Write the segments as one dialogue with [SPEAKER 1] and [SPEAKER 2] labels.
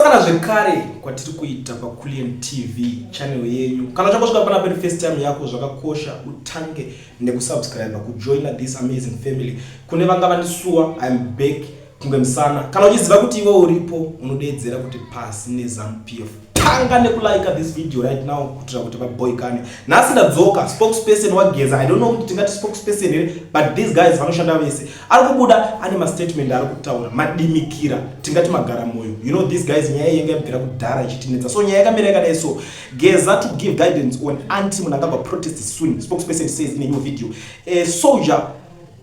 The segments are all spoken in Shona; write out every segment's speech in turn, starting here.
[SPEAKER 1] Kana zvekare kwatiri kuita paCullion TV channel yenyu. Kana uchangosvika pana peri first time yako zvakakosha utange nekusubscribe kujoina this amazing family. Kune vanga vandisuwa I'm back kunge musana. Kana uchiziva kuti iwe uripo unodeedzera kuti pasi neZanuPF. Tanga nekulike this video right now kutira kuti vaboy kane. Nhasi ndadzoka spokesperson wageza. I don't know kuti tingati spokesperson here but these guys vanoshanda vese. ari kubuda ane mastatement ari kutaura madimikira tingati magara moyo you know these guys nyaya yenge yabvira kudhara ichitinetsa so nyaya yakamira yakadai so geza to give guidance on anti munhu angava protest soon spokesperson says in a new video a soldier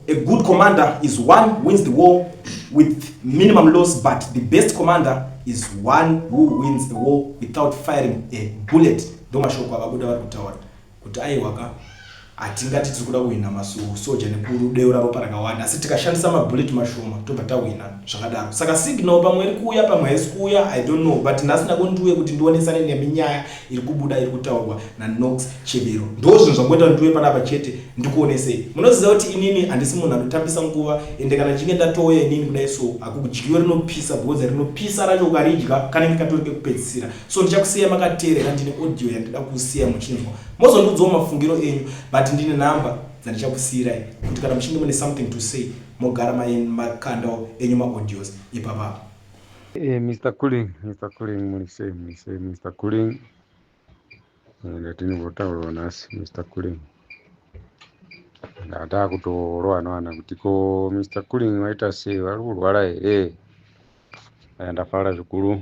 [SPEAKER 1] a good commander is one wins the war with minimum loss but the best commander is one who wins the war without firing a bullet ndomashoko avabuda vari kutaura Kuti aiwa ka, hatingati tiri kuda kuhwina masuwo soja nekudeura ropa rakawanda asi tikashandisa mabullet mashoma tobva tahwina zvakadaro. Saka signal pamwe iri kuuya pamwe haisi kuuya I don't know but nhasi ndago ndiuye kuti ndionesane nemi nyaya iri kubuda iri kutaurwa naNox Chebero. Ndozvinhu zvangoita kuti ndiuye panapa chete ndikuonesei. Munoziva kuti inini handisi munhu anotambisa nguva ende kana ndichinge ndatouya inini kudai so hakudyiwe rinopisa because rinopisa racho ukaridya kanenge katori kekupedzisira. so ndichakusiya makateerera ndine audio yandida kusiya muchinzwa mozondiudzawo mafungiro enyu but ndine number dzandichakusiirai kuti kana muchinge mune something to say mogara makandawo enyu maaudios ipapapa hey, eh, mr
[SPEAKER 2] cooling mr cooling muri sei muri sei mr cooling eh, ndatinimbotaurawo nhasi mr cooling ndataa kutorowa noana kuti ko mr cooling waita sei vari kurwara here eh, ndafara zvikuru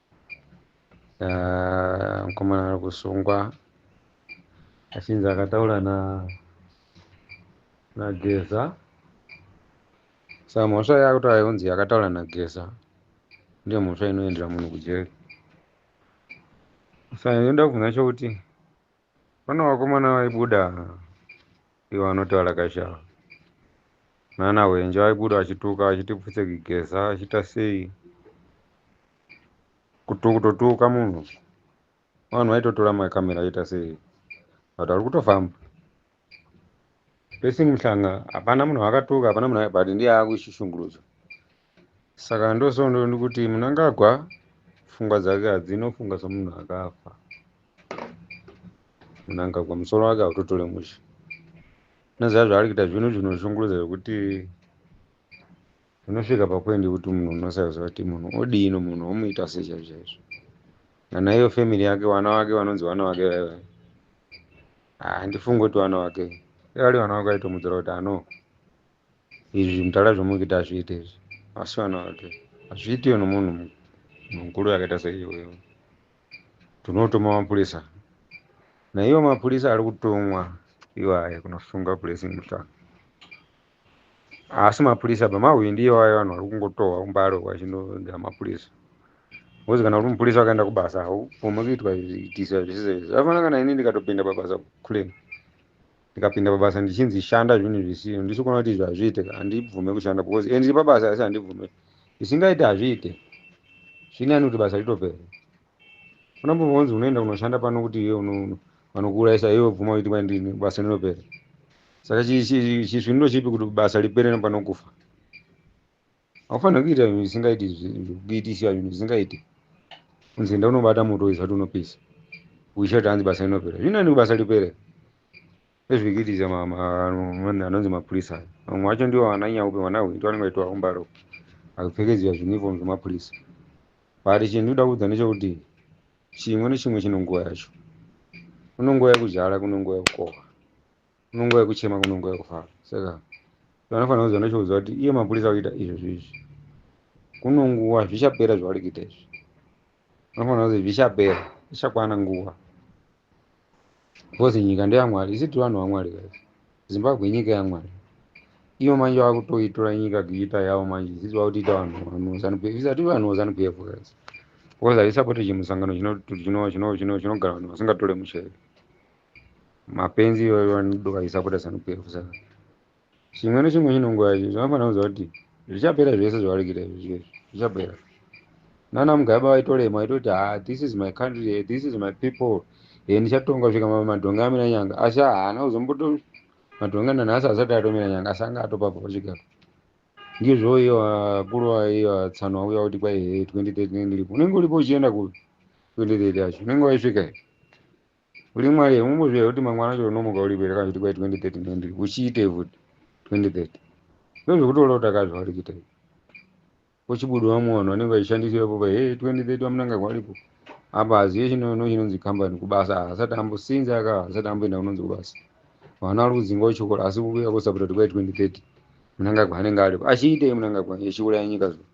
[SPEAKER 2] Ah, mukomana ari kusungwa achinzi akataura na nageza sa mhosva yakuta yonzi yakataura nageza ndiyo mhosva inoendera munhu kujeri sa yoda kubvunza chokuti Pane vakomana vaibuda ivo vanoti valakashava nana hwenje vaibuda vachituka vachiti pfutse kugeza vachiita sei kutotuka munhu vanhu vaitotora makamera vaita sei but vari kutofamba Blessing Mhlanga hapana munhu wakatuka hapana munhu but ndiye akushishungurudzwa saka ndosondo ndikuti munangagwa pfungwa dzake hadzinofunga somunhu akafa munangagwa musoro wake hautotore mushe noziva zvaari kuita zvino zvinoshungurudza zvekuti Unosvika papoint yekuti munhu unosaziva kuti munhu odii nomunhu omuita sei chaizvo chaizvo. Kana iyo family yake vana vake vanonzi vana vake vaiva. Handifungi kuti vana vake. Vari vana vake vaitomudzora kuti ano izvi mudhara zvamuri kuita hazviite izvi. Asi vana vake. Hazviitiwe nomunhu mukuru yakaita seiyoyo. Tinotuma mapurisa. Naiwo mapurisa ari kutumwa iwayo kunosunga Blessing Mutanga. asi mapurisa apa mahwindi iwayo vanhu vari kungotohwa kumbare uko vachindoga mapurisa bcause kana uri mupurisa wakaenda kubasa haupome kuitwa zviitisa zvisizezvi zvafana kana ini ndikatopinda pabasa kulen ndikapinda pabasa ndichinzi shanda zvinhu zvisiyo ndisi kuona kuti izvi hazviite handibvume kushanda bcause e ndiri pabasa asi handibvume zvisingaite hazviite zvinani kuti basa ritopere unombova unzi unoenda kunoshanda pano kuti iwe vanokuurayisa iwe bvuma uiti kwandini basa rinopera saka chisviniro chipi kuti basa ripere nepanokufa haufanira kuita zvinhu zvisingaiti kuitisa zvinhu zvisingaiti unzi enda unobata moto izvati unopisa uisha kuti hanzi basa rinopera zvinani basa ripere Ezvikitisa mama vanhu anonzi mapurisa vamwe vacho ndivo vananyanya kupe vana hwinto vanenge vaitwa umbaro vakupfekedzwa zviuniform zvemapurisa but chinhu ndikuda kuudza ndechekuti chimwe nechimwe chine nguva yacho kune nguva yekuzhala kune nguva yekukohwa kune nguva yekuchema kune nguva yekufara saka vanofanira kuziva ndochikuziva kuti iye mapurisa kuita izvozvo izvi kune nguva zvichapera zvavari kuita izvi Unofanira kuzi zvichapera, zvichakwana nguva. Because nyika ndeyaMwari, isi tiri vanhu vaMwari guys. Zimbabwe inyika yaMwari. Iyo manje vakutoitora nyika kuita yavo manje, sisi vakutiita vanhu vanhu zanu PF, isati vanhu zanu PF guys. Because haisapoti chimusangano chino- chino- chino- chino- chinogara vanhu vasingatore musheve. Mapenzi iwayo vanodoka isapota zanu PF saka. chimwe nechimwe chine nguva yacho zvinofanira kuziva kuti zvichapera zvese zvavari kuita izvi zvese zvichapera nana mugabe vaitolema vaitoti ha ah, this is my country eh, this is my people e ndichatonga svika madhonga amira nyanga asi haana kuzomboto madhonga nanhasi asati atomira nyanga asi anga atopabva pachigaro ndizvo iyo akuru aiyo atsano auya kuti kwai he 2030 ndiripo unenge uripo uchienda ku 2030 yacho unenge waisvika here Uri mwari here umbozviya kuti mangwana acho unomuka uri bere kana kuti kwai 2030 and uchiitei futi 2030 ndozvekutoona kuti akazva uri kuita izvi uchibuda vamwe vanhu vanenge vachishandisira popa hey 2030 vamunanga kwaripo apa hazive chinono chinonzi kambani kubasa haasati ambo sinzi aka haasati amboenda kunonzi kubasa vana vari kudzinga uchikora asi kuuya kusapota kuti kwai 2030 munangagwa anenge aripo achiitei munangagwa echiuraya nyika zvo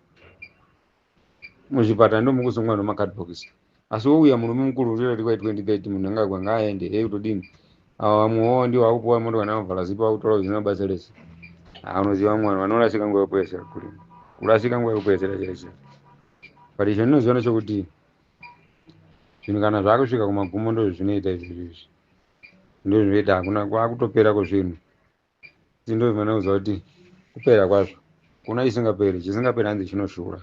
[SPEAKER 2] muzvipatara ndomukuzongwa nomakadbokisi asi wouya murume mukuru urira tikwa 2030 munhu angagwa ngaaende hei kutodini ava vamwewo ndiwo akupuwa moto kana vavhala zipo vakutaura zvisina basa rese anoziva vamwe vanhu vanorasika nguva yekupedzera kurima kurasika nguva yekupedzera chaizvo but izvo ndinoziva nechokuti zvinhu kana zvakusvika kumagumo ndozvinoita izvozvo izvi ndozvinoita hakuna kwakutopera kwezvinhu Dzindo imene uza kuti kupera kwazvo kuna chisingaperi chisingaperi hanzi chinoshura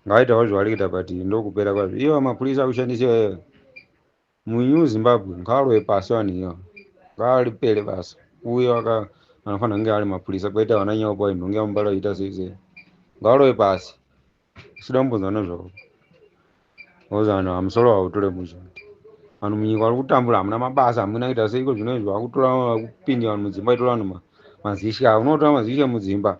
[SPEAKER 2] ngaitawo zvaarikuita but ndokupera kwazvo iyo mapurisa akushandisa iyoyo munew zimbabwe ngaalowe pasi vanhu iyo ngaalipere basa uye aka anofanira kunge ari mapurisa kwete vana nyaopa inhonge yamubala kuita sei sei ngaalowe pasi Sida kumbonzwa nezvavo. Because vanhu vamusoro vautore muzvoti. Vanhu munyika vari kutambura hamuna mabasa hamuna kuita seiko zvino izvi vakutora vakupinda vanhu mudzimba itora vanhu ma- mazishe avo. Unotora mazishe mudzimba.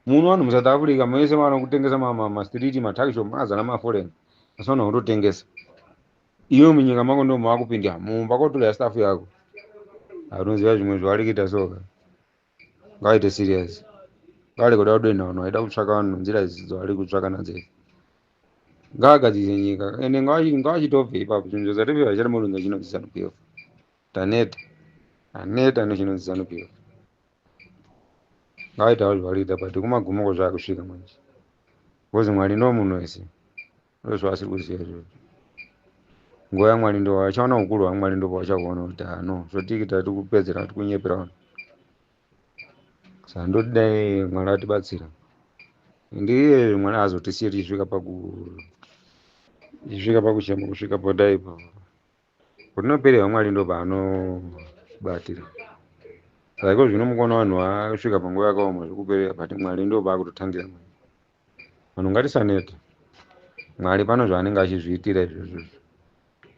[SPEAKER 2] Muno vanhu muSouth Africa mese vana kutengesa ma- ma- mastriti matakishop mazana maforeign. Asi vanhu vakutotengesa. Iwe munyika mako ndiwo mavakupinda mumba kotora staff yako. Anoziva zvimwe zvavari kuita soka. ngaite serious ngare kuda kudenha vanhu vaida kutsvaka vanhu nzira idzi dzavari kutsvaka nadzo idzi ngaagadzirire nyika ende ngaachi- ngaachitobve ipapo chinhu chozatipi hachati murunzi achinonzi zanu pf taneta aneta nechinonzi zanu pf ngaaitawo zvaarikuita but kumagumoko zvaakusvika manje because mwari ndo munhu wese ndozvaasiri kuziva izvozvo nguva yamwari ndo vachaona ukuru hwamwari ndo pavachakuona kuti ha no zvotiki tati kupedzera vati kunyepera vanhu saka ndoti dai mwari atibatsira ndiye mwari azotisiye tichisvika paku tichisvika pakuchema kusvika podai ipapo Kutinopere vamwari ndo paanobatira saka iko zvino mukuona vanhu vasvika panguva yakaoma zvikuperera but mwari ndo paakutotangira vanhu ngatisanete mwari pano zvaanenge achizviitira izvozvo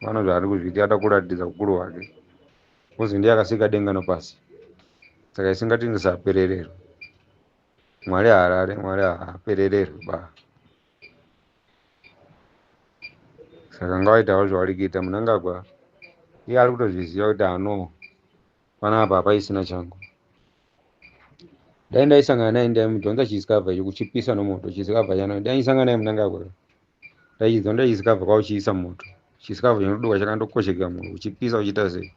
[SPEAKER 2] pano zvaari kuzviitira ada kuratidza ukuru hwake kuzi ndiye akasika denga nopasi saka isingatingisapererero mwari haarare mwari haaperererwi ba saka ngavaitawo zvavari kuita munangagwa iye ari kutozviziva kuti ano panapa hapaisina changu dai ndaisangana naye ndaimudhonza chisikabva icho kuchipisa nomoto chisikabva chana ndaisangana naye munangagwa ndaichidhonza chisikabva kwauchiisa moto chisikabva chinoduka chakandokosheka moto uchipisa uchiita sei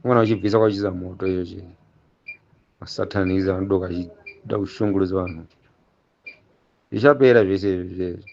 [SPEAKER 2] umwana uchibvisa kwauchiisa moto icho chii masatanizi anodoka achida kushungurudza vanhu zvichapera zvese izvi zvichapera